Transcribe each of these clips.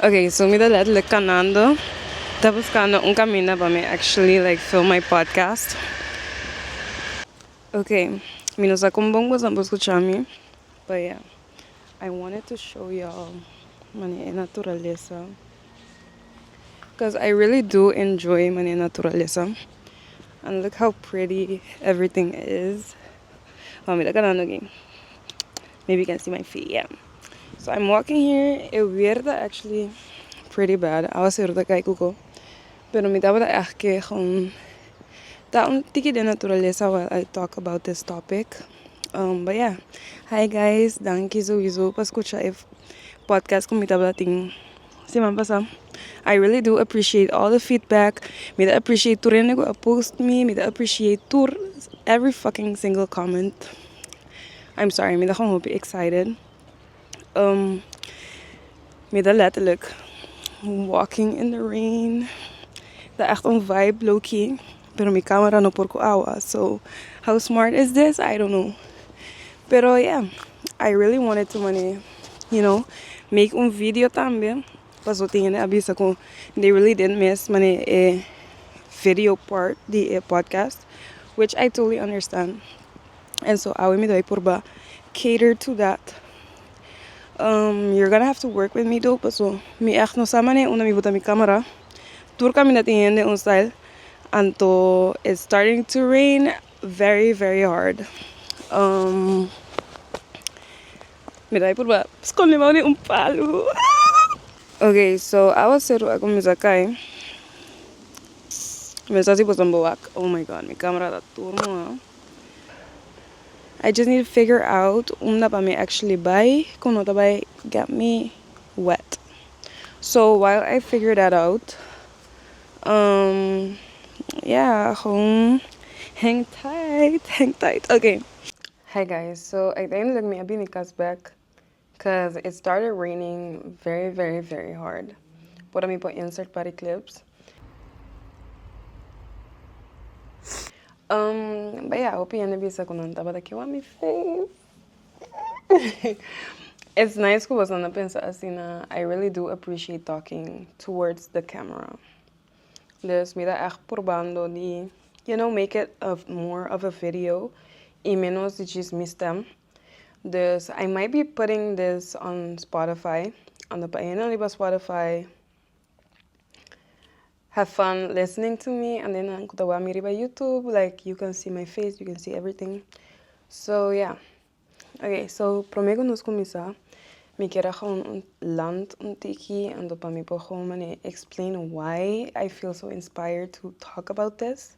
Ok so mi ta letterlijk kanando ta buskando un kaminda pa mi actually like film my podcast ok mi no sa kon bon boso por skucha mi but yeah I wanted to show you all mane e naturalesa Cuz I really do enjoy mane naturalesa and look how pretty everything is oh mi ta kanan oke maybe you can see my feet yeah so I'm walking here e weer ta actually pretty bad awa seru ta kai kuko Pero mi tabata echt kee gewoon ta un tiki den naturalesa while I talk about this topic but ya hi guys danki sowiso pa scucha e podcast cu mi tabata tin siman pasa I really do appreciate all the feedback mi ta appreciate tur hende cu a post mi mi ta appreciate tur every fucking single comment I'm sorry mi ta gewoon hopi excited. mi ta letterlijk walking in the rain ta echt un vibe loki pero mi camera no por cu awa so how smart is this I don't know pero ya I really wanted to mane you know make un video tambe paso tin hende a bisa cu they really did miss mane e video part di e podcast which I totally understand en so awe mi dai purba cater to that you're gonna have to work with me though paso mi echt no sa manera unda mi bota mi camera tur caminda tin hende un style anto it's starting to rain very very hard mi dai purba scondi abaw den un palu ok so awa ceru a cuminsa cay mi a sa si boso boak oh my god mi camera ta tur moha. I just need to figure out unda pa mi actually bai cu no ta bai get me wet. So while I figure that out, um, yeah, gewoon hang tight, hang tight, ok. Hi guys, so uiteindelijk mi a bini cas back Cuz it started raining very very very hard por a mi por insert pa di clips um bay a hopi hende bisa cu nan tabata kiwa mi face it's nice cu boso na pensa asina I really do appreciate talking towards the camera dus mi ta echt purbando di you know make it of more of a video y menos di jis mi stem. Dus I might be putting this on Spotify ando pa ayunan riba Spotify Have fun listening to me and then nan ku ta wak mi riba YouTube like you can see my face you can see everything so yeah Okay so prome ku nos kuminsá mi ker a gewoon land un tiki ando pa mi por gewoon mane explain why I feel so inspired to talk about this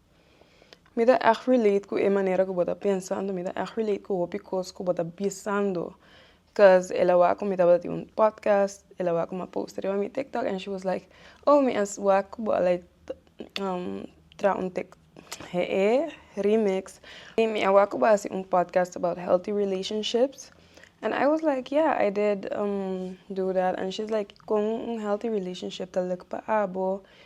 Mi ta ègt relate ku e manera ku bo ta pensando, mi ta ègt relate ku hopi kos ku bo ta bisando cos el a wak ku mi tabata tin un podcast el a wak ku mi a post riba mi tiktok and she was like oh mi a wak ku bo like traha un tik he'e remix y mi a wak ku bo a hasi un podcast about healthy relationships and I was like yeah I did do that and she was like kon un healthy relationship ta lek pa abo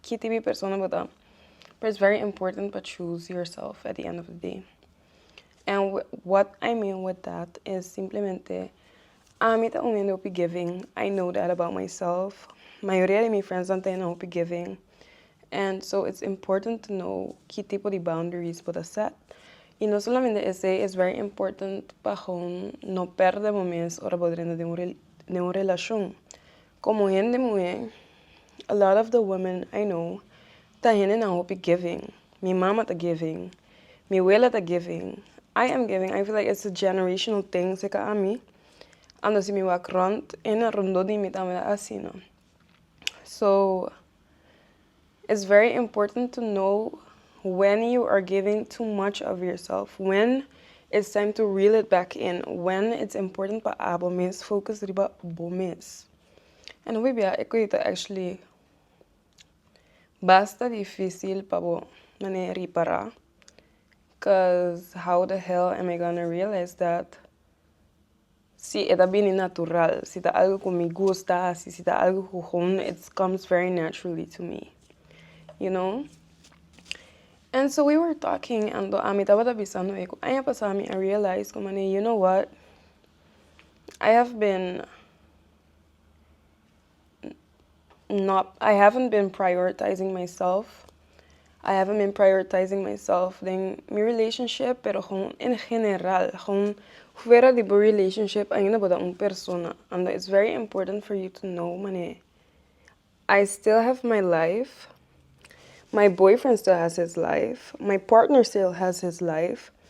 Ki tipo di persona bo ta? Pero it's very important pa choose yourself at the end of the day. And what I mean with that is simplemente ami ta un hende hopi giving. I know that about myself. Mayoria di mi friendsnan ta hende hopi giving. And so it's important to know ki tipo di boundaries bo ta set. Y no solamente esei, it's very important pa hon no perde bo mes ora bo drenta den un den un relashon. Komo hende muhé, a lot of the women I know ta hendenan hopi giving, mi mama ta giving, mi wela ta giving, I am giving, I feel like it's a generational thing seca ami, ando si mi wak rond, hende rondó di mi tambe ta asina. So. It's very important to know when you are giving too much of yourself, when it's time to reel it back in, when it's important pa abo mes focus riba bo mes. And wi bia e cosita actually basta dificil pa bo mane ripara, cuz how the hell am I gonna realize that? Si e ta bini natural, si ta algo ku mi gusta hasi, si ta algo ku hon it comes very naturally to me you know and so we were talking and ami tabata bisando e ku aña pasa ami a realize ku mane you know what I have been not i haven't been prioritizing myself i haven't been prioritizing myself den mi relationship pero gewoon en general gewoon fuera di bo relationship ainda bo ta un persona and it's very important for you to know mane i still have my life my boyfriend still has his life my partner still has his life.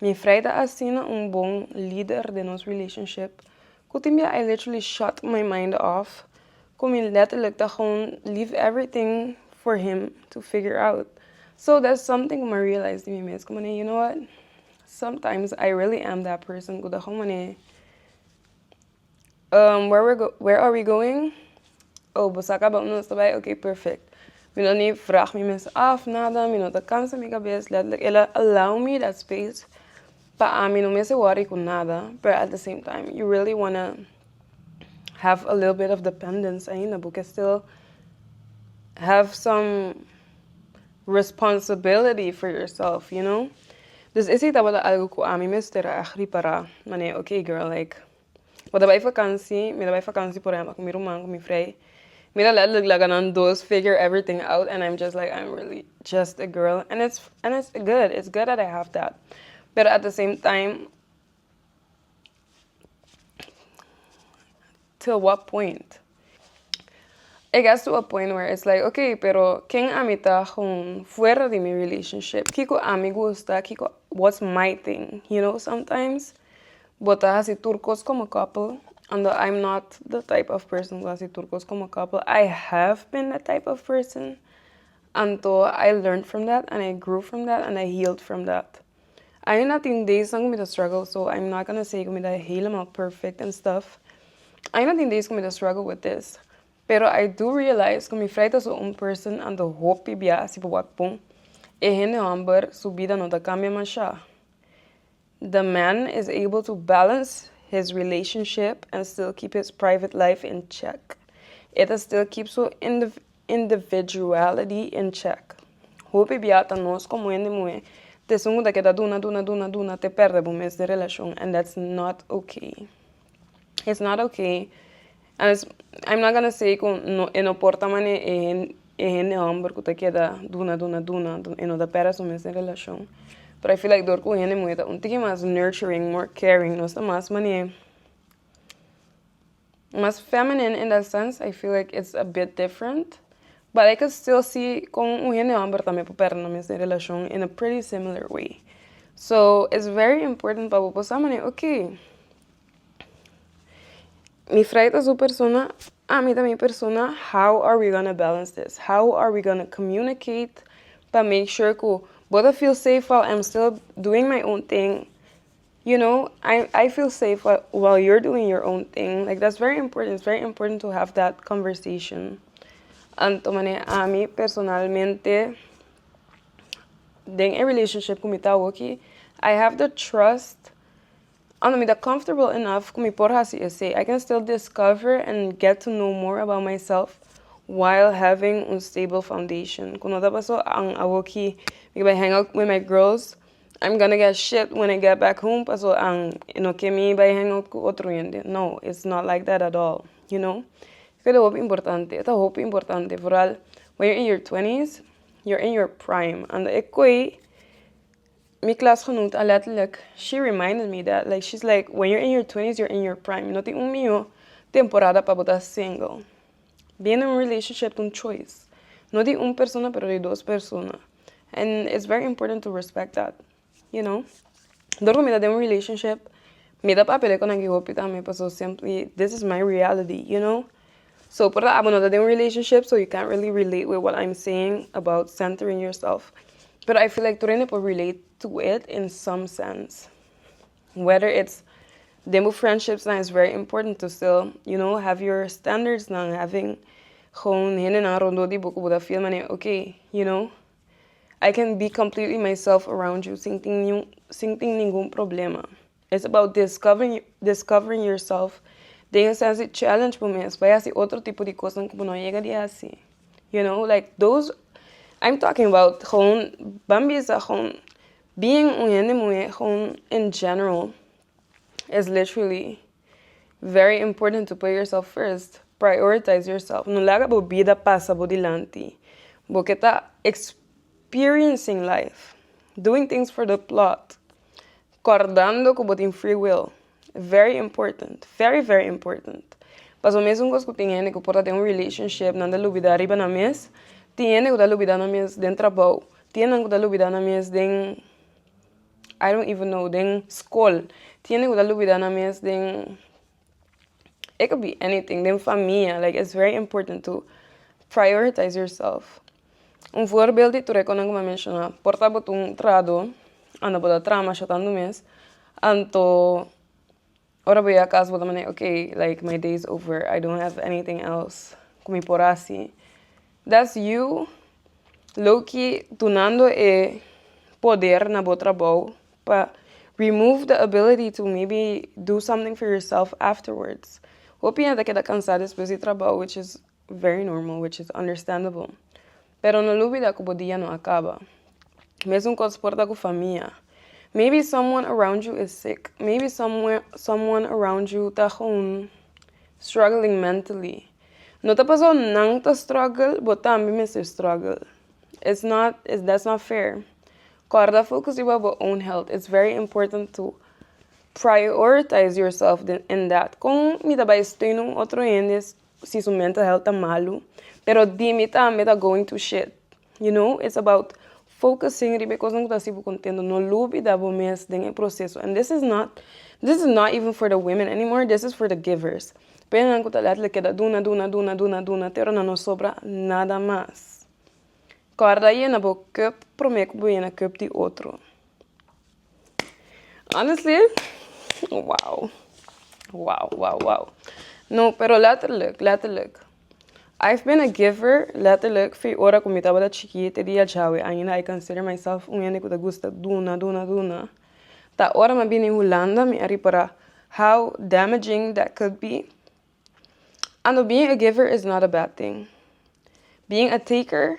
Mi fray ta asina un bon lider den nos relationship cu tin bia I literally shut my mind off cu mi letterlijk ta gewoon leave everything for him to figure out so that's something cu mi realize di mi mes cu mane you know what sometimes I really am that person cu ta gewoon mane. Where we're where are we going? Oh bo sa kaba unda nos ta bai? Ok perfect. Mi no ni vraag mi mes af nada, mi no ta kansa mi kabes, letterlijk el a allow me that space pa ami no mester worry ku nada, pero at the same time you really wanna have a little bit of dependence ainda, bo ke still have some. Responsibility for yourself, you know? Dus esei tabata algu ku ami mester a ripará. Manera, ok girl, like, bo ta bai vakansi, mi ta bai vakansi por ehèmpel ku mi ruman, ku mi frei. Mi ta lèt luk laga nan dos figure everything out and I'm just like, I'm really just a girl and it's and it's good, it's good that I have that. Pero at the same time. To what point? It gets to a point where it's like, okay, pero ken ami ta hon fuera di mi relationship? Kiko ami gusta? Kiko, what's my thing? You know, sometimes bo ta hasi tur kos komo couple, an dan I'm not the type of person ku hasi tur kos komo couple. I have been that type of person, anto I learned from that and I grew from that and I healed from that. Aina tin daysnan ku mi ta struggle so im not gonna say ku mi ta helemaal perfect and stuff aina tin days ku mi ta struggle with this pero I do realize ku mi frai ta so un person anto hopi bia si pupua pun e hende hòmber su bida no ta kambia masha the man is able to balance his relationship and still keep his private life in check e ta still keep su indivi. Individuality in check. Hopi bia ta nos komo hende muhé ta esun ku ta keda duna duna duna duna te pèrdè bo mes den relashon and that's not ok. It's not ok and it's I'm not gonna say ku no e no por ta manera e hen e hende hòmber ku ta keda duna duna duna e no ta pèrdè su mes den relashon pero I feel like dor ku hende muhé ta un tiki mas nurturing more caring nos ta mas manera. mas feminine in that sense I feel like it's a bit different but I can still see con un hende homber tambe por perdona mes den relacion in a pretty similar way so it's very important pa bo por sa mane okay mi fry ta su persona ami ta mi persona how are we gonna balance this how are we gonna communicate pa make sure cu bo ta feel safe while I'm still doing my own thing. You know I I feel safe while while you're doing your own thing like that's very important it's very important to have that conversation anto mane ami personalmente den e relationship ku mi ta hoki I have the trust anto mi ta comfortable enough ku mi por hasi esei I can still discover and get to know more about myself while having un stable foundation ku no ta paso an awoki mi ke bai hang out with my girls. I'm gonna get shit when I get back home paso ang e no ke mi bai hang out ku otro hende no it's not like that at all you know keda hopi importante e ta hopi importante vooral when you're in your twentys you're in your prime and e ko ei mi klasgenoot a letterlijk she reminded me that like she's like when you're in your twentys you're in your prime no tin un mihó temporada pa bo ta single being in a relationship ta un choice no di un persona pero di dos persona. and it's very important to respect that you know dor ku mi ta den un relationship mi ta papele ku naki hopi tambe paso simply this is my reality you know so por abo no ta den un relationship so you can't really relate with what I'm saying about centering yourself pero I feel like tur hende por relate to it in some sense. whether it's den bo friendships nan is very important to still you know have your standards nan having gewoon hendenan rondó di bo ku bo ta feel manera okay you know I can be completely myself around you sin tin ningun sin tin ningun problema it's about discovering discovering yourself den e sèns di challenge bo mes bai hasi otro tipo di kosnan ku bo no a yega di hasi you know like those I'm talking about gewoon ban bisa gewoon. Being un hende muhé gewoon in general is literally very important to put yourself first, prioritize yourself no laga bo bida pasa bo dilanti bo ke ta experiencing life doing things for the plot kòrdando ku bo tin free will Very important very very important paso mes un cos cu tin hende cu por ta den un relationship nan ta lubida riba nan mes tin hende cu ta lubida nan mes den trabou tin hende cu ta lubida nan mes den I don't even know den scol tin hende cu ta lubida nan mes den it could be anything den famia like it's very important to prioritize your self. Un voorbeeld di tur e konan ku mi a menshoná por tabata un trado anda bo ta traha masha tantu mes anto ora bo a kas bo ta manda ok like my day is over i dont have anything else ku mi por hasi dats you loki tunando e poder na bo trabou pa remove the ability to maybe do something for yourself afterwards hopi hende a keda kansa despues di trabou which is. Very normal which is understandable pero no lubida cu bo dia no a caba. Mes un cos por ta cu famia. Maybe someone around you is sick, maybe someone around you ta gewoon struggling mentally. No ta pasao nan ta struggle bo tambe mester struggle. It's not that's not fair. Corda focus riba bo own health. It's very important to prioritize yourself in that. Con mi ta bay steun un otro hende? si su mental health ta malu pero dimi tambe ta going through shit you know it's about focusing riba e cosnan ku ta hasi bo contento no lubida bo mes den e proceso and this is not this is not even for the women anymore this is for the givers pa e nan ku ta letterlijk keda duna duna duna duna duna te ora nan no sobra nada mas kòrda yena bo cup prome ku bo yena cup di otro. Honestly, wow. Wow, wow, wow. No, pero letterlijk, letterlijk. I've been a giver, letterlijk, fi ora ku mi tabata chikit, te dia djawe ainda I consider myself un hende ku ta gusta duna, duna, duna. Ta ora m'a bini Hulanda mi a ripara how damaging that could be. I know being a giver is not a bad thing. Being a taker.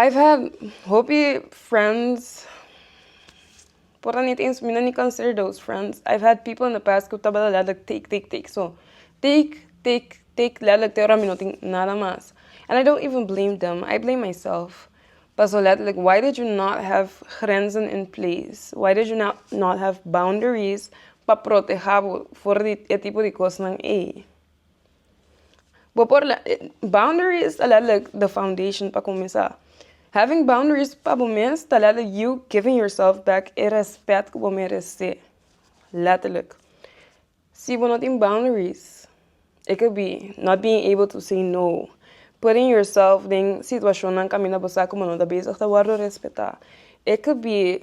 I've had hopi friends por a nit eens mi no ni consider those friends I've had people in the past ku tabata letterlijk take take take so take take take letterlijk te ora mi no tin nada mas and I don't even blame them I blame myself paso letterlijk why did you not have grenzen in place why did you not have boundaries pa protehábo for di e tipo di kosnan ey. Bo por la boundaries ta la like the foundation pa kumesa having boundaries pa bo mes ta la like you giving yourself back e respèt ku bo merese letterlijk si bo no tin boundaries it could be not being able to say no putting yourself den situashonnan kaminda bo sa ku bo no ta bezig ta wòrdu respetá it could be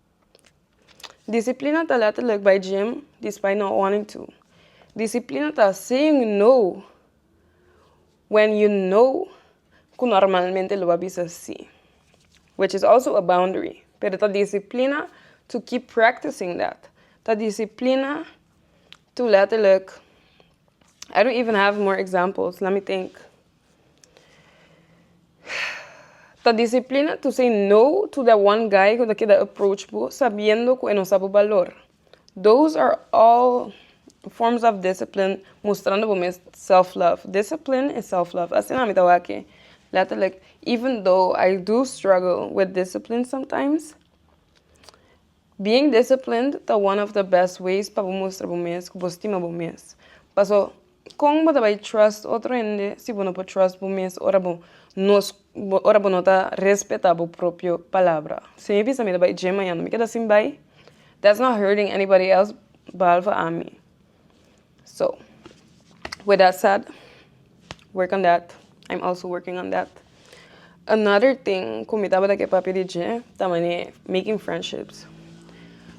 Disiplina ta letterlijk bai gym di spy na warning too. Disiplina ta saying no when you know ku normalmente lo a bisa si which is also a boundary pero ta disiplina to keep practicing that ta disiplina to letterlijk I don't even have more examples let me think. Ta disiplina to say no to that one guy ku ta keda approach bo sabiendo ku e no sa bo balor. Those are all forms of discipline mostrando bo mes self love. Discipline is self love asina mi ta wak-e letterlijk even though I do struggle with discipline sometimes. Being disciplined ta one of the best ways pa bo mustra bo mes ku bo stima bo mes. Paso, kon bo ta bai trust otro hende si bo no por trust bo mes ora bo ora bo no ta respetá bo propio palabra? Si mi bisa mi ta bai gym mañana mi keda sin bai, that's not hurting anybody else behalve ami. So, with that said, work on that. I'm also working on that. Another thing cu mi tabata ke papia di dje ta manera making friendships.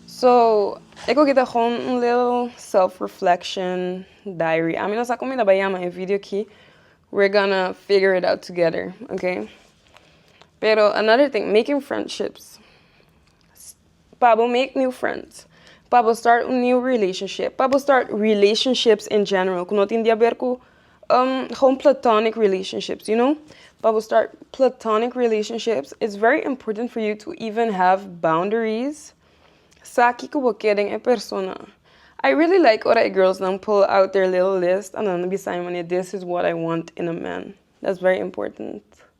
So, e cu aki ta gewoon un little self reflection diary. Ami no sa como mi ta bay yama e video aki. We're gonna figure it out together, ok? Pero another thing, making friendships. Pa bo make new friends. Pa bo start un new relationship. Pa bo start relationships in general ku no tin di aber ku hon platonic relationships you know pa bo start platonic relationships it's very important for you to even have boundaries sa kiko bo ke den e persona I really like ora e girls nan pull out their little list a nan bisa mi mane this is what I want in a man that's very important.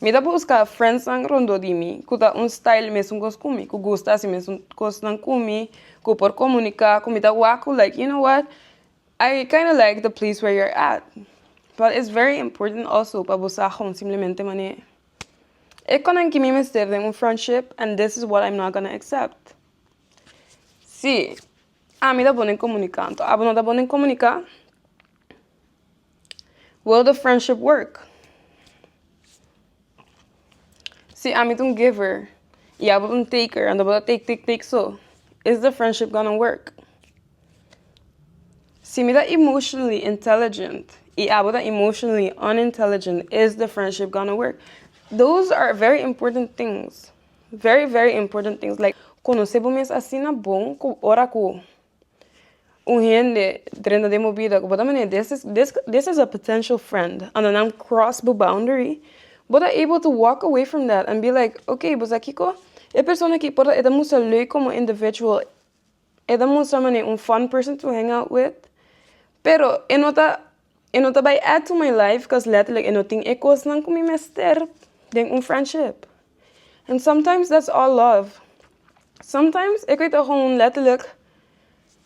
Mi ta buska friendsnan rondó di mi ku ta un style mesun kos ku mi ku gusta si mesun kosnan ku mi ku por komunika ku mi ta wak ku like you know what I kind of like the place where you're at but it's very important also pa bo sa hon simplemente manera e konanki mi mester den un friendship and this is what I'm not gonna accept si ami ta bon den komunika anto abo no ta bon den komunika. Will the friendship work? Si ami ta un giver y abo ta un taker and abo ta take take take so is the friendship gonna work? Si mi ta emotionally intelligent y abo ta emotionally unintelligent is the friendship gonna work? Those are very important things very very important things like conoce bo mes asina bon cu ora cu un hende drenta den bo bida ku bo ta manera this is this is a potential friend anda nan cross bo boundary bo ta able to walk away from that and be like okay bosa kiko e persona aki por e ta mustra leuk komo individual e ta mustra mane un fun person to hang out with pero e no ta. E no ta bai add to my life cos letterlijk e no tin e cosnan cu mi mester den un friendship and sometimes that's all love sometimes e cu ta hoon letterlijk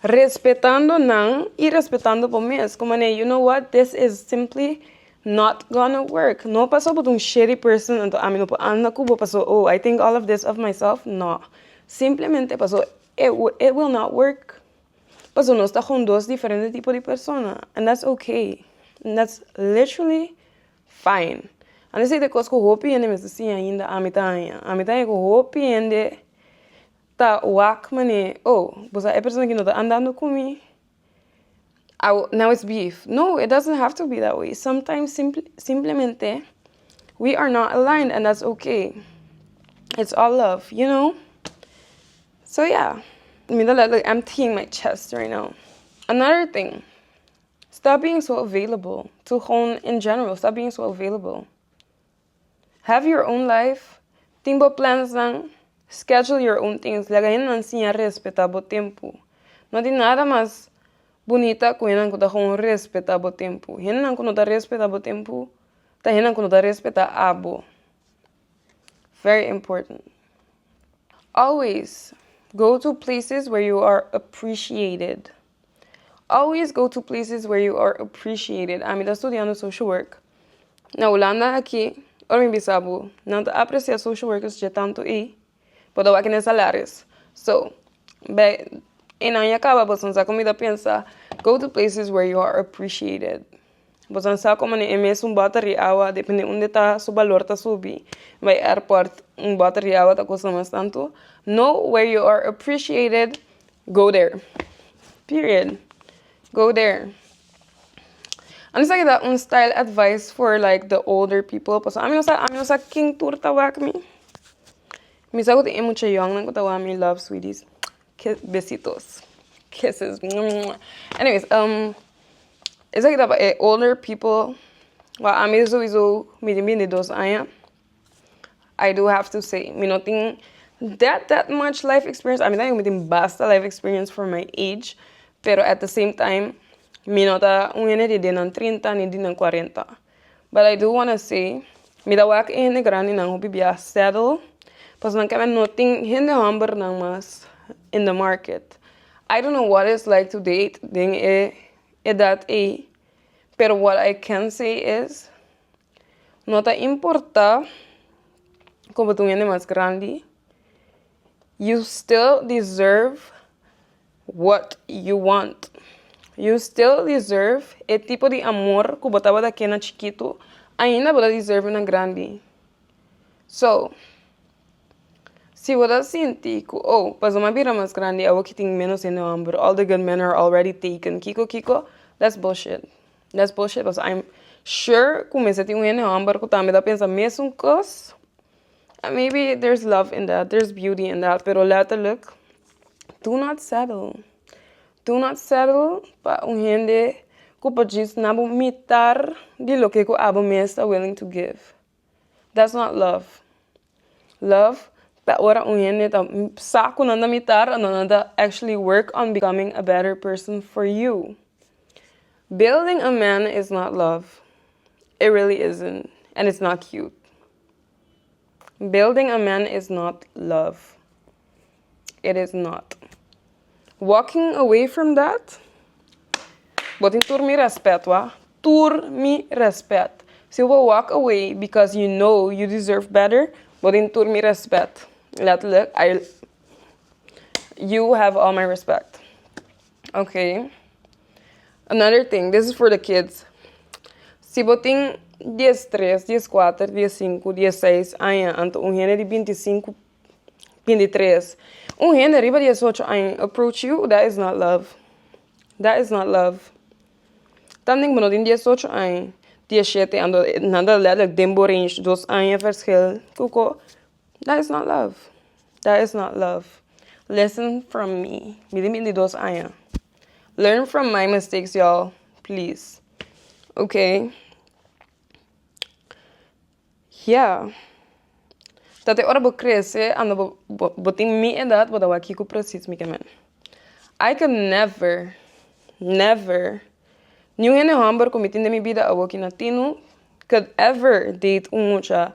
respetando nan y respetando bo mes cu mane you know what this is simply not gonna work no paso bo ta un shitty person anto ami no por anda cu bo paso oh I think all of this of myself no simplemente paso it will not work. Paso nos ta con dos diferente tipo di persona and that's okay and that's literally fine a veces e cos cu hopi hende mester si ainda ami ta haña ami ta haña cu hopi hende ta wak mane oh boso ta e persona cu no ta andando cu mi awo now it's beef no it doesn't have to be that way sometimes simple simplemente we are not aligned and that's okay it's all love you know. So ya mi ta let empty in my chest right now another thing stop being so available to gewoon in general stop being so available have your own life tin bo plansnan schedule your own things laga hendenan siña respeta bo tempu no tin nada mas bunita ku hendenan ku ta gewoon respeta bo tempu hendenan ku no ta respeta bo tempu ta hendenan ku no ta respeta abo Very important. Always go to places where you are appreciated. Always go to places where you are appreciated. Ami ta studiando social work na Hulanda aki. Ora mi bisa bo, nan ta aprecia social workers dje tantu ei. Por dawaki nan salarios so bè enan ya kaba boso nan sa como mi ta pensa go to places where you are appreciated boso nan sa como e mes un bota ri awa depende unda ta su balor ta subi bay airport un bota ri awa ta costa mas tanto no where you are appreciated go there period go there. a no ser ke ta un style advise for like the older people pasobra ami no sa ami no sa kin tur ta wak mi mi sa ku tin e mucha yòngnan ku ta wak mi love sweeties kes besitos keses anyways esaki ta e older people wak ami sowieso mi tin binti dos aña. I do have to say mi no tin that that much life experience a mi ta bin mi tin basta life experience for my age pero at the same time mi no ta un hende di den nan trinta ni di nan cuarenta but I do wanna say mi ta wak e hende grandi nan hopi bia settle pasobra nan kende no tin hende homber nan mas in the market I don't know what is like to date den e edad ey pero what I can say is. No ta importá ku bo ta un hende mas grandi you still deserve what you want you still deserve e tipo di amor ku bo tabata ken na chikitu ainda bo ta deserve na grandi so si bo ta sinti ku oh pas bo m'a bira mas grandi awo kitin menos hende hombru all the good men are already taken kiko kiko that's bullshit. That's bullshit cos I'm sure cu mester tin un hende homber cu tambe ta pensa mesun cos and maybe there's love in that there's beauty in that pero letterlijk do not settle do not settle pa un hende cu pa djis na bo mitar di loke cu abo mes ta willing to give. That's not love love ta ora un hende ta sa ku nan ta mitar ora nan ta actually work on becoming a better person for you building a man is not love it really isn't and it's not cute building a man is not love. it is not walking away from that bo tin tur mi respet wak tur mi respet si bo walk away because you know you deserve better bo tin tur mi respet letterlijk you have all my respect okay another thing this is for the kids si bo tin diestres dieskuater diesinku dieseis aña anto un hende di binti sinku Pin di tres. Un hende riba di diesocho aña approach yu dat is not love dat is not love tanti bo no tin diesocho aña diecisiete aña nan ta letterlijk den bo range dos aña verschil koko dat is not love dat is not love listen from me mi tin bin di dos aña learn from my mistakes yall please oke. Ya. Tate ora bo krese anda bo bo tin mi edat bo ta wak kiko presis mi ke men. I could never never ni un hende hòmber ku mi tin den mi bida awoki na tinu could ever date un mucha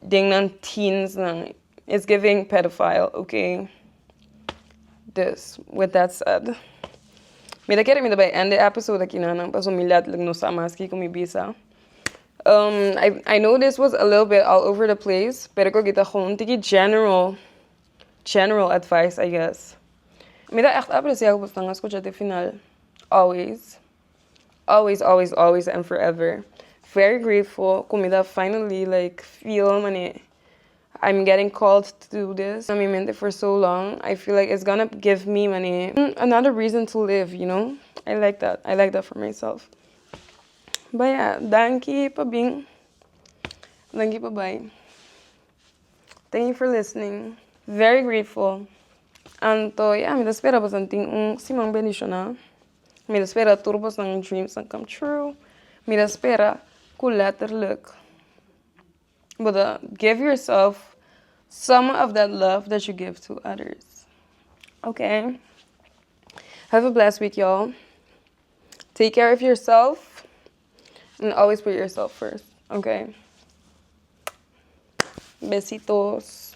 den nan teens nan Is giving pedophile oke dus with that said mi ta kere mi ta bai end e episode aki na nan paso mi letterlijk no sa mas kiko mi bisa I know this was a little bit all over the place pero ko kita hon tiki general general advice I guess mi ta echt aprecia ku bo ta skucha te final always. Always always always and forever very grateful cu mi ta finally like feel mane I'm getting called to do this na mi mente for so long I feel like it's gonna give me mane another reason to live you know I like that I like that for myself Bay ya danki pa bin danki pa bay thank you for listening very grateful anto ya mi ta spera boso tin un siman bendicional. Mi ta spera tur bosnan dreams a come true mi ta spera ku letterlijk bo ta give yourself some of that love that you give to others ok have a blessed week y'all take care of yourself and always put yourself first ok besitos.